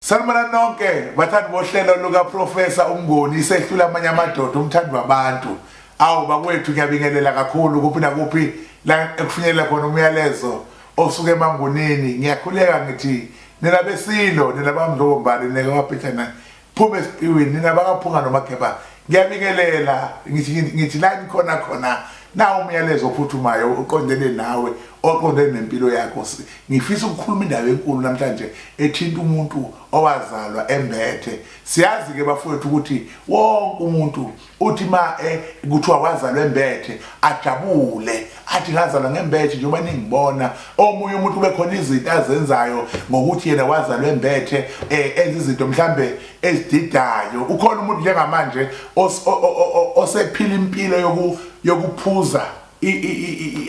Sanibona nonke bathandi bohlelo luka Professor uMngoni isehlula amanye amadoda umthandi wabantu. Awu bakwethu ngiyabingelela kakhulu kuphi nakuphi la ekufinyelela khona umyalezo osuke emangunini ngiyakhuleka ngithi nina besilo nina bamdlobombali neke waphethana phume esiqiwini nina bakaphunga nomakhepa ngiyanikelela ngithi la ngikhona khona na umyalezo ophuthumayo uqondene nawe oqondene nempilo yakho ngifisa ukukhuluma indaba enkulu namhlanje ethinta umuntu owazalwa embethe siyazi ke bafowethu ukuthi wonke umuntu uthi ma eh, kuthiwa wazalwa embethe ajabule athi ngazalwa ngembethe njengoba ningibona omunye umuntu ube khona izinto azenzayo ngokuthi yena wazalwa embethe eh, enza izinto mhlambe ezididayo ukhona umuntu njengamanje osephila impilo yoku yokuphuza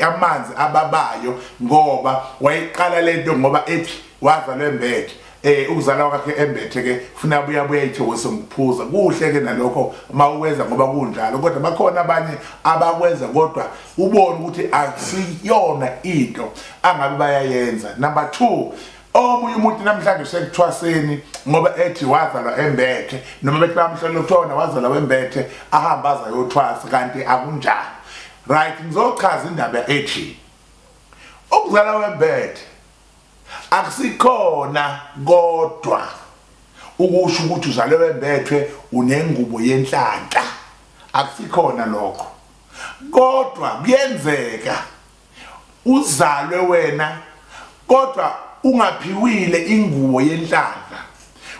amanzi ababayo ngoba wayiqala lento ngoba ethi wazalwa embethe eh ukuzala kwakhe embethe ke funa buya buya ithokozo ngikuphuza kuhle ke nalokho mawukwenza ngoba kunjalo kodwa bakhona abanye abakwenza kodwa ubone ukuthi akusiyona into angabe bayayenza number 2 omunye umuntu namhlanje usekuthwaseni ngoba ethi wazalwa embethe noma bethi bamhlola uthona wazalwa wembethe ahamba azayothwasa kanti akunjalo right ngizochaza indaba ethi ukuzala wembethe akusikhona kodwa ukusho ukuthi uzale wembethwe unengubo yenhlanhla akusikhona lokho kodwa kuyenzeka uzalwe wena kodwa ungaphiwile ingubo yenhlanhla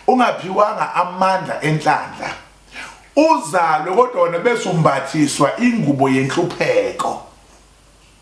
ungaphiwanga amandla enhlanhla uzalwe kodwa wena bese umbathiswa ingubo yenhlupheko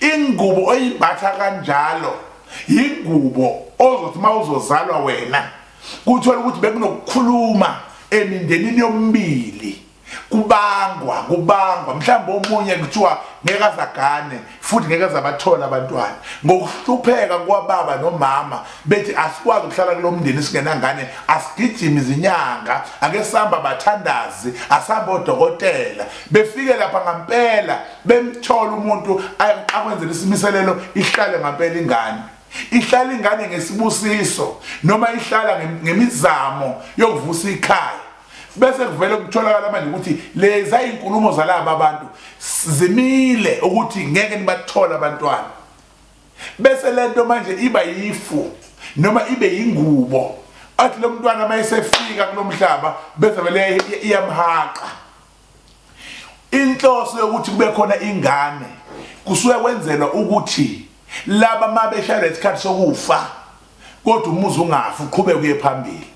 ingubo oyimbatha kanjalo yingubo ozothi uma uzozalwa wena kuthola ukuthi bekunokukhuluma emindenini yomibili kubangwa kubangwa mhlawumbe omunye kuthiwa ngeke azagane futhi ngeke azabathola abantwana ngokuhlupheka kwababa nomama bethi asikwazi ukuhlala kulo mndeni singenangane asigijimi izinyanga ake sihamba bathandazi asihambe odokotela befike lapha ngampela bemthola umuntu akwenzela isimiselelo ihlale ngampela ingane ihlala ingane ngesibusiso noma ihlala ngemizamo yokuvusa ikhaya bese kuvele kutholakala manje ukuthi leza inkulumo zalabo abantu zimile ukuthi ngeke nibathole abantwana bese lento manje iba yifu noma ibe yingubo athi lo mntwana uma esefika kulo mhlaba bese vele iyamhaqa inhloso yokuthi kube khona ingane kusuke kwenzelwa ukuthi laba mabeshaya lesikhathi sokufa kodwa umuzi ungafi uqhubeke uye phambili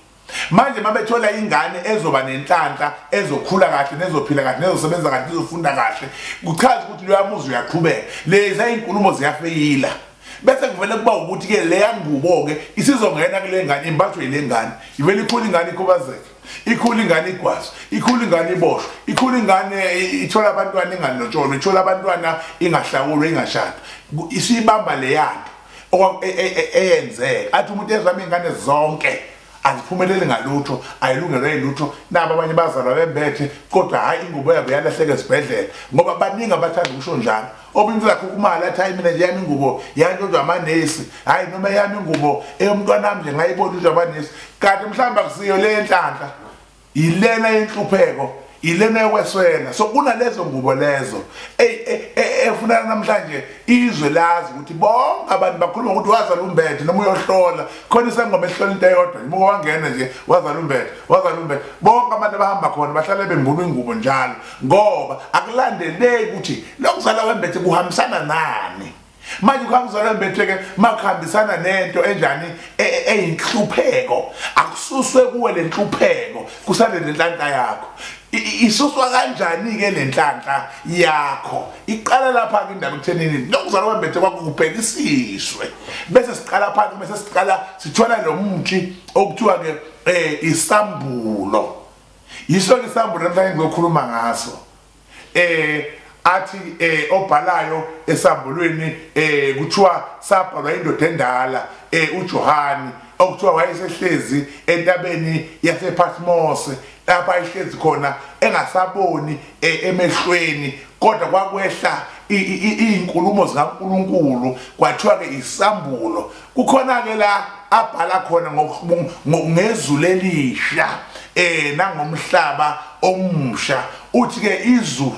manje mabethola ingane ezoba nenhlanhla ezokhula kahle nezophila kahle nezosebenza kahle nezofunda kahle kuchaza ukuthi loya muzi uyaqhubeka leza inkulumo ziyafeyila bese kuvele kuba ukuthi ke leya ngubo ke isizongena kule ngane imbathwe ile ngane ivele ikhula ingane ikhubazeke ikhula ingane igwazi ikhula ingane iboshwe ikhula ingane ithola abantwana inganotsholwa ithola abantwana ingahlawulwa ingashada isiyibamba leyanto e, e, e, eyenzeka athi umuntu ezama ingane zonke aziphumeleli ngalutho ayilungelo yilutho nabo abanye bazalwa bembethe kodwa hhayi ingubo yabo yalahleka esibhedlela ngoba baningi abathanda ukusho njalo okunye zakho kumali athi hayi mina nje yami ingubo yantshonjwa amanesi hhayi noma yami ingubo eyomntwanami nje ngayibona intshonjwa amanesi kanti mhlawumbe akusiyo le yenhlanhla yilena yenhlupheko yilena yokweswela so kunalezo ngubo lezo e, e, e, efunana namhlanje izwe lazi ukuthi bonke abantu bakhuluma ukuthi wazala umbethe noma uyohlola khona isangoma ehlola into eyodwa imuke wangena nje wazala umbethe wazala umbethe bonke abantu abahamba khona bahlale bembulwa ingubo njalo ngoba akulandeleki ukuthi lokuzala wembethe kuhambisana nani manje kwakuzala wembethe ke makuhambisana nento enjani e, e, eyinhlupheko akususwe kuwe lenhlupheko kusale lenhlanhla yakho isuswa kanjani ke lenhlanhla yakho iqala lapha ke indaba ekuthenini lokuzala wembethe kwakubhekisiswe bese siqala phansi bese siqala sithola lo muthi okuthiwa ke eh isambulo yiso ke isambulo namhlanje ngizokhuluma ngaso eh athi eh obhalayo esambulweni eh kuthiwa sabhalwa indoda endala eh uJohani okuthiwa wayesehlezi entabeni yasePatmos lapha ayihlezi khona engasaboni eh, emehlweni kodwa kwakwehla izinkulumo zikaNkuluNkulu kwathiwa ke isambulo kukhona ke la abhala khona ngezulu elisha eh nangomhlaba omusha uthi ke izulu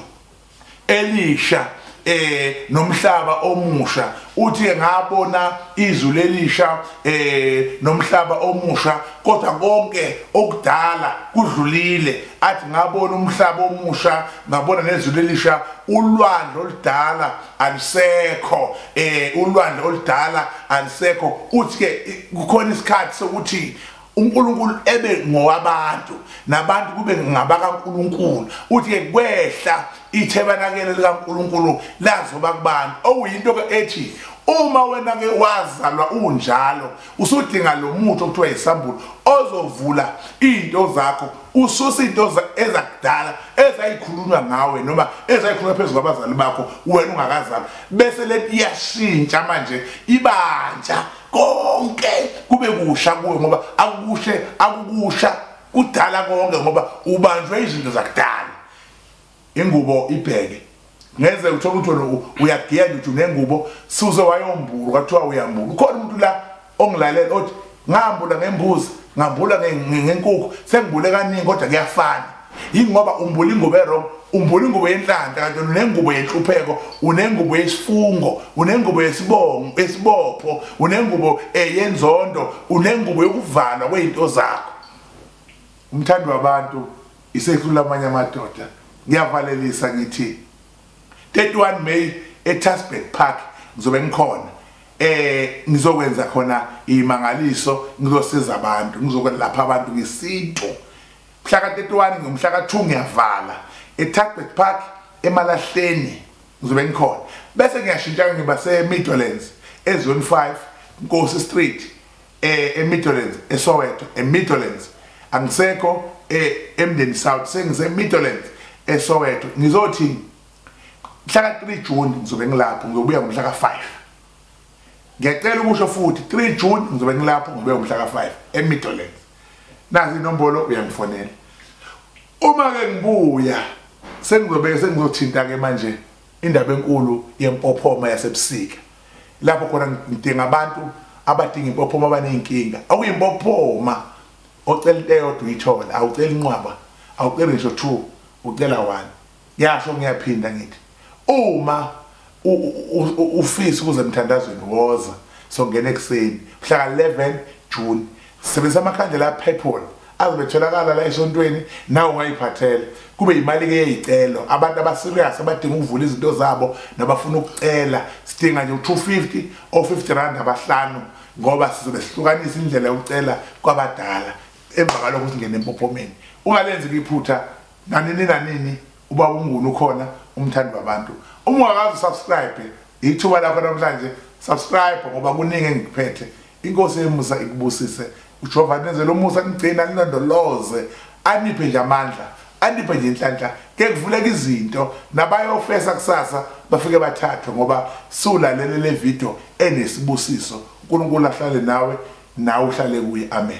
elisha eh nomhlaba omusha uthi ngabona izwi lelisha eh nomhlaba omusha kodwa konke okudala kudlulile athi ngabona umhlaba omusha ngabona nezwi lelisha ulwandle oludala alisekho eh ulwandle oludala alisekho uthi ke kukhona isikhathi sokuthi uNkulunkulu ebe ngowabantu nabantu kube ngabakaNkulunkulu uthi ke kwehla ithebanakele likaNkulunkulu lazoba kubantu okuyinto ke ethi uma wena ke wazalwa unjalo usudinga lo muthi okuthiwa yisambulo ozovula iy'nto zakho ususe iy'nto ezakudala ezayikhulunywa ngawe noma ezayikhulunywa phezu kwabazali bakho wena ungakazali bese le nto iyashintsha manje ibantsha konke kube kusha kuwe ngoba akukushe akukusha kudala konke ngoba ubanjwe izinto zakudala ingubo ibheke ngeze uthola ukuthi wena uyagenda uthi unengubo suze wayombulu kwathiwa uyambulu ukhona umuntu la ongilalela othi ngambula ngembuzi ngambula ngenkukhu sengibule kaningi kodwa kuyafana yingoba umbula ingubo erong umbula ingubo yenhlanta kanti unengubo yenhlupheko unengubo yesifungo unengubo yesibongo esibopho unengubo eh, yenzondo unengubo yokuvalwa kwezinto zakho umthandi wabantu isehlula amanye amadoda ngiyavalelisa ngithi 31 May eTasberg Park ngizobe ngikhona eh ngizokwenza khona imangaliso ngizosiza abantu ngizokwelapha abantu ngesintu mhla ka-31 ngomhla ka-2 ngiyavala eTasberg Park emalahleni ngizobe ngikhona bese ngiyashintsha ngiba se-Midlands ezone 5 Nkosi Street eh eMidlands eSoweto eMidlands angisekho eh, eMdeni South sengise eMidlands eSoweto ngizothi mhla ka 3 June ngizobe ngilapho ngiyobuya ngomhla ka 5 ngiyacela ukusho futhi 3 June ngizobe ngilapho ngibuya ngomhla ka 5 eMidlands nazi inombolo uyangifonela uma ke ngibuya sengizobe sengizothinta ke manje Indaba enkulu yempophoma yasebusika lapho khona ngidinga abantu abadinga impophoma abaney'nkinga okuyimpophoma ocela into eyodwa uyithola awucela inqwaba awuceli ngisho two ucela one yasho ngiyaphinda ngithi uma ufisa ukuze emthandazweni woza songena ekuseni mhlaka 11 june sebenzisa amakhandlela aphethwol azobe etholakala la esontweni nawe ungayiphathela kube yimali ke yeyicelo abantu abaserious abadinga ukuvula izinto zabo nabafuna ukucela sidinga nje u250 o 50 rand abahlanu ngoba sizobe sihlukanisa indlela yokucela kwabadala emva kalokho singene empophomeni ungalenzi kuyiphutha nanini nanini uba ungunu ukhona umthandi wabantu uma ungakazi usubscribe ithuba lakho namhlanje subscribe ngoba kuningi engikuphethe inkosi emusa ikubusise ujehova nenzele umusa nigcina alilondoloze aniphe nje amandla aniphe nje inhlanhla ke kuvuleka izinto nabayofesa kusasa bafike bathathwe ngoba siwulalele le video enesibusiso unkulunkulu ahlale nawe nawe uhlale kuye amen